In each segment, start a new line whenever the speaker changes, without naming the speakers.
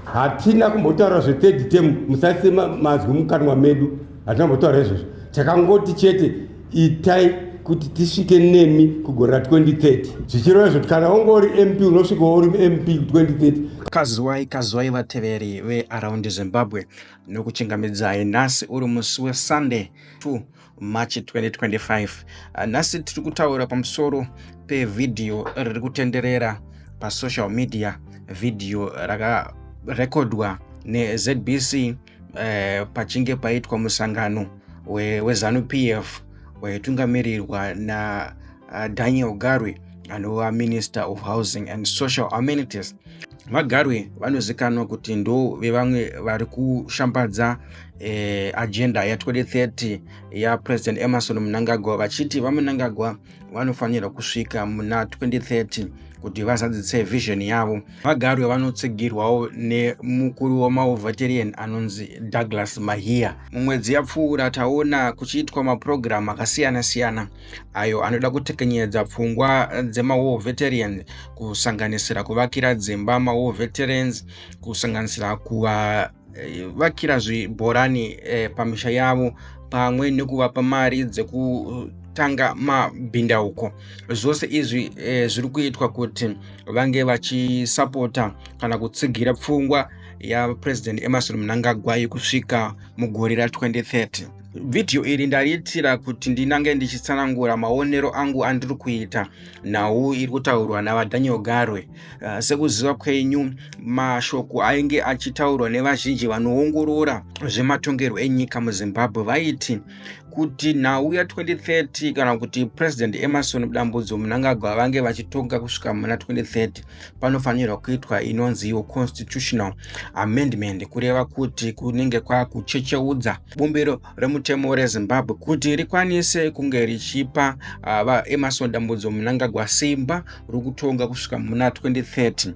hatina kumbotaura zvethird term musaise mazwi mukanwa medu hatina kumbotaura izvozvo takangoti chete itai kuti tisvike nemi kugore ra 2030 zvichireva izvo kuti kana unge uri mp unosvikawo uri mp 2030 kazwai kazwai
vateveri vearaundi zimbabwe nokuchingamidzai nhasi uri musi wesunday 2 march 2025 ah, nhasi tiri kutaura pamusoro pevhidhiyo riri kutenderera pasocial media vhidhiyo rakarekodwa nezbc eh, pachinge paitwa musangano wezanup f waitungamirirwa nadaniel ah, garwe anova minister of housing and social amenities VaGarwe vanozikanwa kuti ndo vevamwe vari kushambadza eh, agenda ya 2030 ya President Emerson Mnangagwa vachiti VaMnangagwa vanofanirwa kusvika muna 2030 kuti vazadzise vision yavo. VaGarwe vanotsigirwawo nemukuru wemaOvatarian anonzi Douglas Mahiya. Mumwedzi yapfuura taona kuchiitwa mapurogiramu akasiyana-siyana ayo anoda kutekenyedza pfungwa dzemawar veterans kusanganisira kuvakira dzimba mawar veterans kusanganisira kuvavakira eh, zvibhorani eh, pamisha yavo pamwe nekuvapa mari dzeku kutanga mabhindauko zvose izvi e, zviri kuitwa kuti vange vachisapota kana kutsigira pfungwa yapresident emerson mnangagwa yekusvika mugore ra 2030 Vhidhiyo iri ndariitira kuti ndinange ndichitsanangura maonero angu andiri kuita nhau iri kutaurwa naVaDaniel Garwe. Uh, sekuziva kwenyu, mashoko ainge achitaurwa nevazhinji vanoongorora zvematongerwo enyika muZimbabwe vaiti kuti nhau ya 2030 kana kuti president emerson dambudzo munangagwa vange vachitonga kusvika muna 2030 panofanirwa kuitwa inonzi yo constitutional amendment kureva kuti kunenge kwakuchecheudza bumbiro remutemo rezimbabwe kuti rikwanise kunge richipa ah, vaemarson dambudzo munangagwa simba rokutonga kusvika muna 2030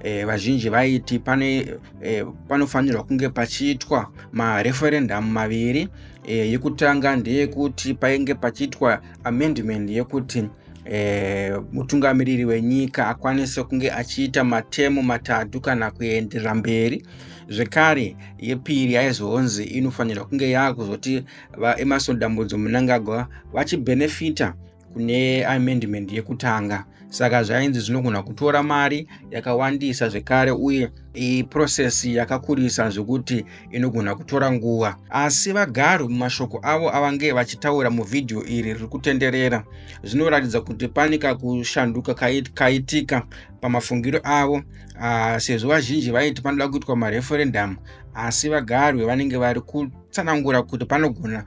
eh, vazhinji vaiti pane eh, panofanirwa kunge pachiitwa mareferendamu maviri eh, yekutanga ndeyekuti painge pachiitwa amendment yekuti E, mutungamiriri wenyika akwanise kunge achiita matemo matatu kana kuenderera mberi zvekare yepiri yaizonzi inofanirwa kunge yaakuzoti vaemarson dambudzo munangagwa vachibhenefita kune amendment yekutanga saka zvainzi zvinogona kutora mari yakawandisa zvekare uye iprocess yakakurisa zvekuti inogona kutora nguva asi vagari mumashoko avo avange vachitaura muvhidhiyo iri riri kutenderera zvinoratidza kuti pane kakushanduka kaitika pamafungiro avo uh, sezvo vazhinji vaiti panoda kuitwa mareferendamu asi vagarwe vanenge vari kutsanangura kuti panogona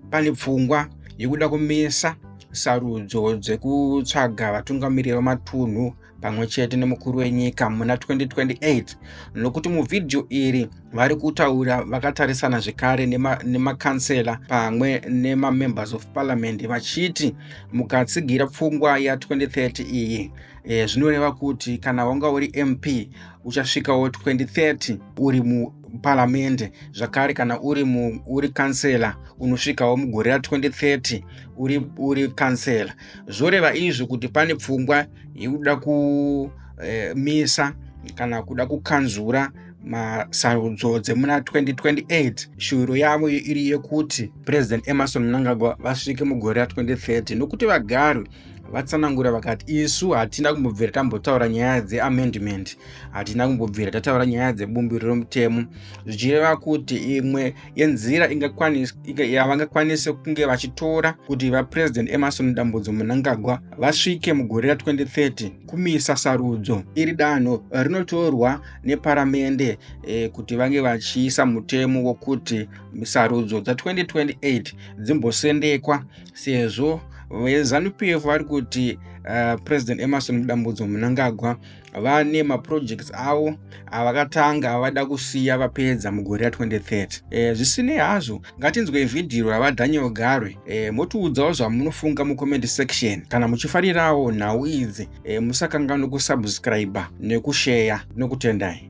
pane pfungwa yekuda kumisa sarudzo dzekutsvaga vatungamiriri vematunhu pamwe chete nemukuru wenyika muna 2028 nokuti muvhidhiyo iri vari kutaura vakatarisana zvekare nemakansela nema pamwe nemamembers of parliament vachiti mukatsigira pfungwa ya 2030 iyi e, zvinoreva kuti kana wanga uri mp uchasvikawo 2030 uri muparamende zvakare kana uri mu, uri kansela unosvikawo mugore ra 2030 uri, uri kansela zvoreva izvi kuti pane pfungwa yekuda kumisa eh, e, kana kuda kukanzura masarudzo dzemuna 2028 shuviro yavo iri yekuti president emerson mnangagwa vasvike mugore ra 2030 nokuti vagari vatsanangura vakati isu hatina kumbobvira tambotaura nyaya dzeamendment hatina kumbobvira tataura nyaya dzebumbiro romutemo zvichireva kuti imwe yenzira yavangakwanise kunge vachitora kuti vapresident emarson dambudzo munangagwa vasvike mugore ra2030 kumisa sarudzo iri danho rinotorwa neparamende e, kuti vange vachiisa mutemo wokuti sarudzo dza2028 dzimbosendekwa sezvo vezanupf vari kuti uh, president emerson mudambudzo munangagwa vane maprojects avo avakatanga avada kusiya vapedza mugore ra 2030 e, zvisinei hazvo ngatinzwe vhidhiyo ravadaniel garwe e, motiudzawo zvamunofunga mucomment section kana muchifarirawo nhau idzi e, musakanganwe kusubscribe nekusheya nokutendai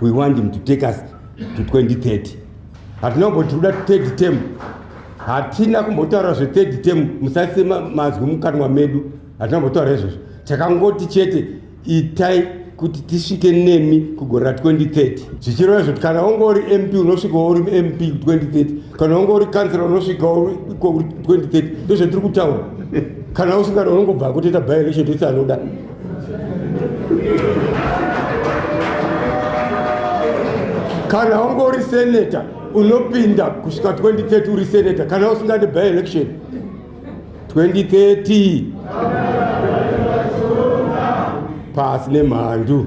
we want him to take us to 2030 hatina kumboti tikuda third term hatina kumbotaura zvethird term musaise mazwi mukanwa medu hatina kumbotaura izvozvo takangoti chete itai kuti tisvike nemi kugore ra 2030 zvichireva izvoti kana unge uri mp unosvikawo uri mp 2030 kana unge uri kansela unosvikawo iko 2030 ndozvatiri kutaura kana usingada unongobva kutoita byerection tese anoda kana ungori senator unopinda kusvika 2030 uri senator kana usingadi by election 2030 pasi nemhandu